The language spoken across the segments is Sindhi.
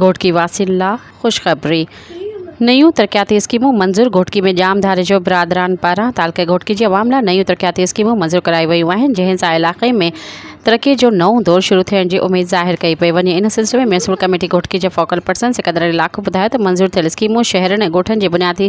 گهوٽڪي واسين لا خوشخبري، نيون ترقياتي اسڪيمون منظور، گهوٽڪي ۾ ڄام ڌاري جو برادران پاران تعلقي گهوٽڪي جي عوام لا نيون ترقياتي اسڪيمون منظور ڪرايون ويون آهن جنهن سان علائقي ۾ ترقي جو نئون دور شروع ٿيڻ جي اميد ظاهر ڪئي پئي وڃي ان سلسلي ۾ ميونسپل ڪميٽي گهوٽڪي جي فوڪل پرسن سڪندر علي لاکو ٻڌايو ته منظور ٿيل اسڪيمون شهرن ۽ ڳوٺن جي بنيادي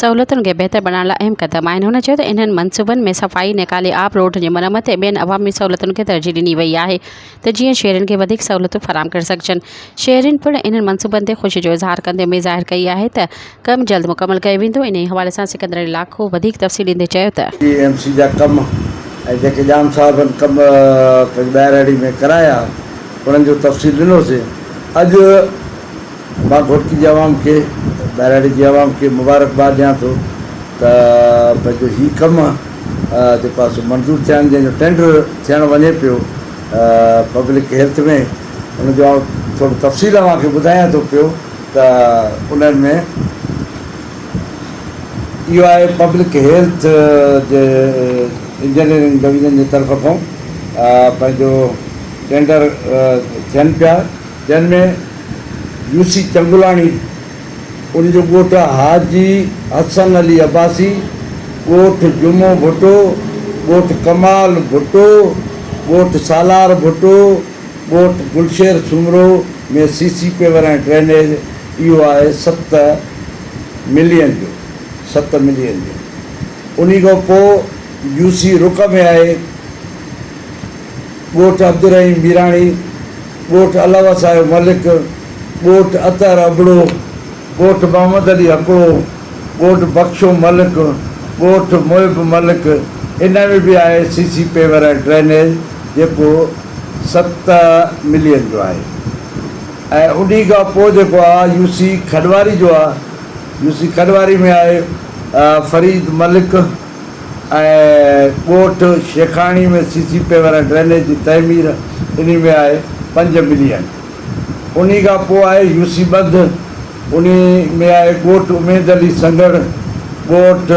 سهولتن کي بهتر بڻائڻ لا اهم قدم آهن هن چيو ته انهن منصوبن ۾ صفائي نيڪالي آب روڊن جي مرمت ۽ ٻين عوامي سهولتن کي ترجيح ڏني وئي آهي ته جيئن شهرين کي وڌيڪ سهولتون فراهم ڪري سگهجن، شهرين پڻ انهن منصوبن تي خوشي جو اظهار ڪندي اميد ظاهر ڪئي آهي ته ڪم جلد مڪمل ڪيو ويندو، انهيء حوالي سان سڪندر علي لاکو وڌيڪ تفصيل ڏيندي چيو ته. ٽي ايم سي جا ڪم ۽ جيڪي ڄام صاحبن ڪم پنهنجي ٻهراڙي ۾ ڪرايا انهن جو تفصيل ڏنوسين، اڄ مان گهوٽڪي جي عوام کي ٻهراڙي جي عوام کي مبارڪباد ڏيان ٿو ته پنهنجو هي ڪم. تي پاسو منظور ٿيا آهن جنهن جو ٽينڊر ٿيڻ وڃي پيو پبلڪ هيلٿ ۾ ان جو آئون ٿورو تفصيل اوهان کي ٻڌايان ٿو پيو ته انهن ۾ اهو آهي پبلڪ هيلٿ جي انجنيئرنگ ڊويزن جي طرف کان پنهنجو ٽينڊر ٿين پيا جنهن ۾ يوسي چنگلاڻي ان جو ڳوٺ حاجي حسن علي عباسي، ڳوٺ جمعو ڀٽو، ڳوٺ ڪمال ڀٽو، ڳوٺ سالار ڀٽو، ڳوٺ Gulsher Soomro ۾ C C paver ۽ drainage اهو آهي ست ملين جو ست ملين جو انهي کان پوء يو سي رڪ ۾ آهي ڳوٺ عبدالرحيم ميراڻي، ڳوٺ علاوه صاحب ملڪ، ڳوٺ اطهر ابڙو، ڳوٺ محمد علي هڪڙو، ڳوٺ بخشو ملڪ، ڳوٺ محب ملڪ، انهن ۾ به آهي سي سي پيور ۽ ڊرينيج جيڪو ست ملين جو آهي ۽ انهي کان پوء جيڪو آ يو سي کڏواري جو آ، يو سي کڏواري ۾ آهي فريد ملڪ، ۽ ڳوٺ Shaikhani ۾ C C paver ۽ drainage جي تعمير انهي ۾ آهي پنج ملين انهي کان پوء آهي يو سي ٻڌ انهي ۾ آهي ڳوٺ اميد علي سنگهڙ ڳوٺ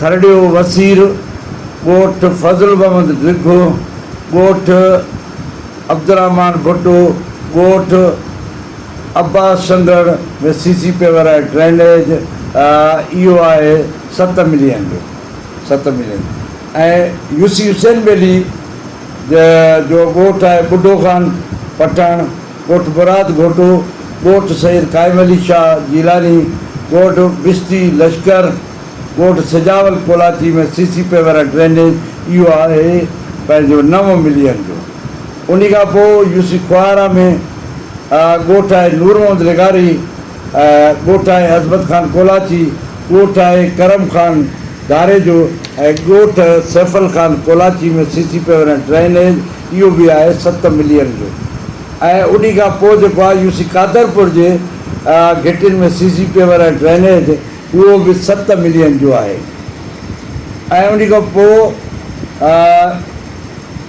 ٿرڙيو وسير ڳوٺ فضل محمد ڊگهو ڳوٺ عبدالرحمان ڀٽو ڳوٺ Abbas Sanghar ۾ C C paver ۽ drainage ايو آهي ست ملين جو ست million ۽ U C Hussain Beli جو ڳوٺ آهي ٻڍو خان پٺاڻ ڳوٺ مراد گهوٽو ڳوٺ سيد قائم علي شاهه جيلاني ڳوٺ بستي لشڪر ڳوٺ Sajawal Kolachi ۾ C C paver ۽ drainage ايو آهي پنهنجو نو ملين جو. انهي کان پوء يو سي کوهارا ۾ ڳوٺ آهي نور محمد لغاري، ڳوٺ آهي عظمت خان ڪولاچي، ڳوٺ آهي ڪرم خان ڌاريجو ۽ ڳوٺ Saifal Khan Kolachi ۾ C C paver ۽ drainage اهو به آهي ست ملين جو ۽ انهي کان پوء جيڪو آهي يو سي قادرپور جي گهٽين ۾ سي سي پيور ۽ ڊرينيج اهو به ست ملين جو آهي ۽ انهي کان پوء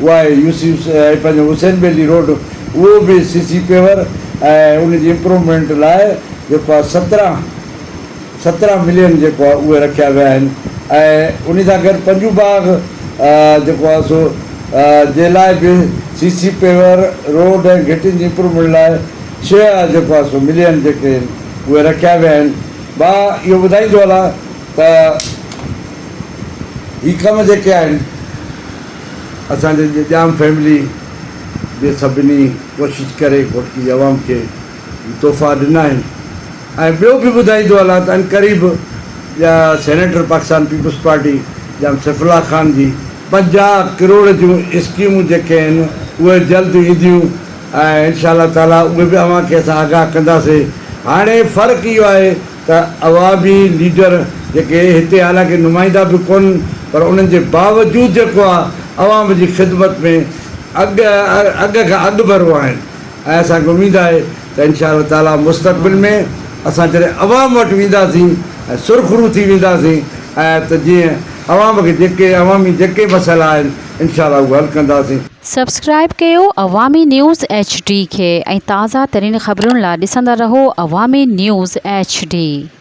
اها آهي يوسف ۽ پنهنجو حسين بيلي روڊ اهو به سي سي پيور ۽ ان جي امپروومينٽ لاء جيڪو آهي سترهن سترهن ملين جيڪو آهي اهي رکيا ويا آهن ۽ انهي سان گڏ پنجو باغ جيڪو آهي سو جي لاء به سي سي پيور روڊ ۽ گهٽين جي امپروومينٽ لاء ڇهه جيڪو آهي سو ملين جيڪي آهن اهي رکيا ويا آهن مان اهو ٻڌائيندو هلان ته هي ڪم جيڪي آهن اسان جي ڄام فيملي جي سڀني ڪوشش ڪري گھوٽڪي جي عوام کي هي تحفا ڏنا آهن ۽ ٻيو به ٻڌائيندو هلان ته عنقريب جا سينيٽر پاڪستان پيپلز پارٽي ڄام سيف الله خان جي پنجاهه ڪروڙ جون اسڪيمون جيڪي آهن اهي جلد اينديون ۽ انشاء الله تعالي اهي به اوهان کي اسان آگاهه ڪنداسين هاڻي فرق اهو آهي ته عوامي ليڊر جيڪي هتي حالانڪه نمائندا به ڪونهن پر انهن جي باوجود جيڪو آهي عوام جي خدمت ۾ اڳ اڳ کان اڳڀرو آهن ۽ اسان کي اميد آهي ته انشاء الله تعاليٰ مستقبل ۾ اسان جڏهن عوام وٽ وينداسين ۽ سرخرو ٿي وينداسين ته جيئن عوام کي جيڪي عوامي جيڪي مسئلا آهن انشاء الله اهو حل ڪنداسين. سبسڪرائيب ڪيو عوامي نيوز ايڇ ڊي کي ۽ تازه ترين خبرن لا ڏسندا رهو عوامي نيوز ايڇ ڊي.